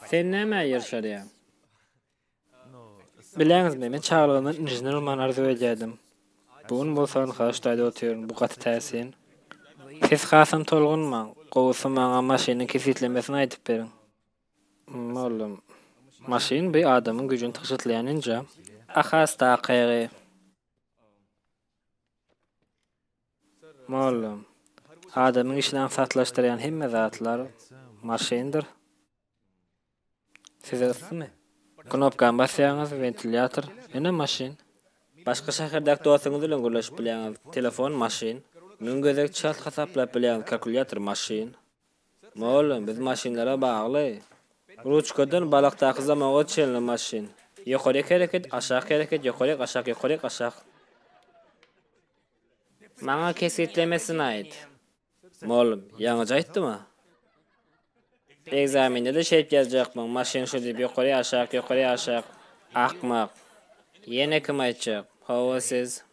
Sen nämä ýer salýaň? Bilýäňizmi, men çagalygymdan inžener bolmagyny arzuw edýärdim. Bu gün bolsa Anhal ştaýda otyryn, bu gaty täsin. Siz hasam tolgunmaň, gowusy maňa maşynyň kesgitlemesini aýdyp beriň. Mugallym. Maşyn bi adamyň güýjüni tygşytlaýan enjam. A has-da akygy. Mollum, adamyň işini aňsatlaşdyrýan hemme zatlar maşyndyr. Size yssymy? Knopkany basýaňyz, wentilýator, ýene maşyn. Başga şäherdäki dostuňyz bilen gürleşip bilýäňiz, telefon, maşyn. Müň gezek çalt hasaplap bilýäňiz, kalkulýator, maşyn. Mollum, biz maşynlara bagly. Ruçkadan balykdaky zamoga çenli maşyn. Ýokaryk hereket, aşak hereket, ýokaryk, aşak, ýokaryk, aşak. Maňa kesgitlemesini aýt. Mugallym, ýaňyja aýtdym-a. Ekzamende-de şeýip ýazjakmyň, maşyn şu diýip ýokaryýaşak, ýokaryýaşak, akmak. Ýene kim aýtjak? Hawa, siz.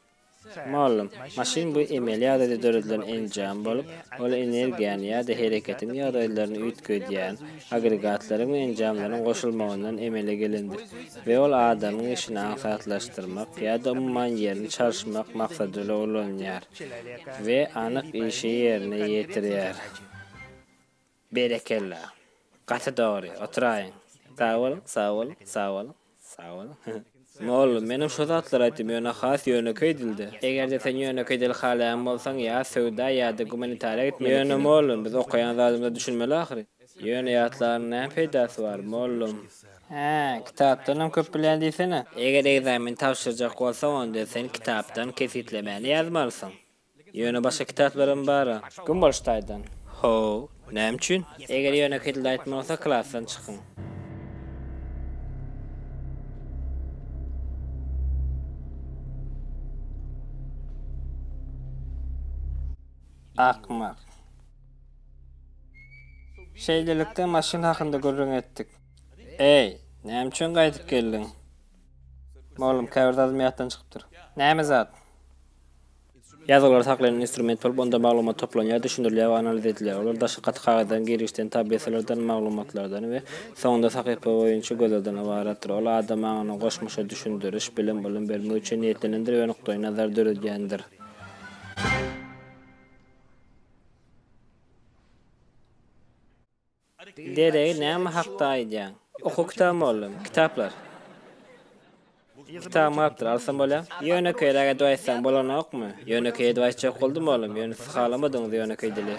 Mugallym, maşyn bu emeli ýagdaýda döredilen enjam bolup, ol energiýany ýa-da hereketiň ýagdaýlaryny üýtgedýän, agregatlaryň we enjamlaryň goşulmagyndan emele gelendir we ol adamyň işini aňsatlaşdyrmak ýa-da umuman ýerini çalyşmak maksadyla ulanylýar we anyk işi ýerine ýetirýär. Berekella. Gaty dogry. Oturaýyň. Sag boluň, sag boluň, sag boluň. Sag boluň. Mollum, menem şo zatlary aýtdym, ýöne has ýönekeý dilde. Eger-de sen ýönekeý dil halaýan bolsaň, ýa söwda, ýa-da gumanitariýa gitmeli ekeniň. Ýöne mollum, biz okaýan zadymyza düşünmeli ahyryn. Ýöne ýatlanyň näme peýdasy bar, mollum? Hä, kitapdanam köp bilýän diýsene. Eger ekzameni tabşyrjak bolsaň, onda sen kitapdan kesgitlemäni ýazmalysyň. Ýöne başga kitaplarym bar-a. Kim boluş taýdan? Haw, näme üçin? Eger ýönekeý dilde aýtmaly bolsa, klasdan çykyň. Akmak. Şeýlelikde maşyn hakynda gürrüň etdik. Eý, näme üçin gaýdyp geldiň? Mugallym, käbir zadym ýatdan çykypdyr. Näme zat? Ýazgylary saklaýan instrument bolup, onda maglumat toplanýar, düşündirilýär we analiz edilýär. Olar daşky gaty kagyzdan, girgiçden, tablisalardan, maglumatlardan we soňunda sahypa boýunça gözlegden ybaratdyr. Ol adam aňyna goşmaça düşündiriş, bilim, ylym bermek üçin niýetlenendir we nukdaýnazar döredýändir. Deregi näme hakda aýdýaň? Okuw kitaby mugallym. Kitaplar. Kitaby maapdyr, alsam bolýa? Ýönekeýräk edip aýtsaň bolanokmy? Ýönekeý edip aýtjak boldum mugallym, ýöne siz halamadyňyz ýönekeý dili.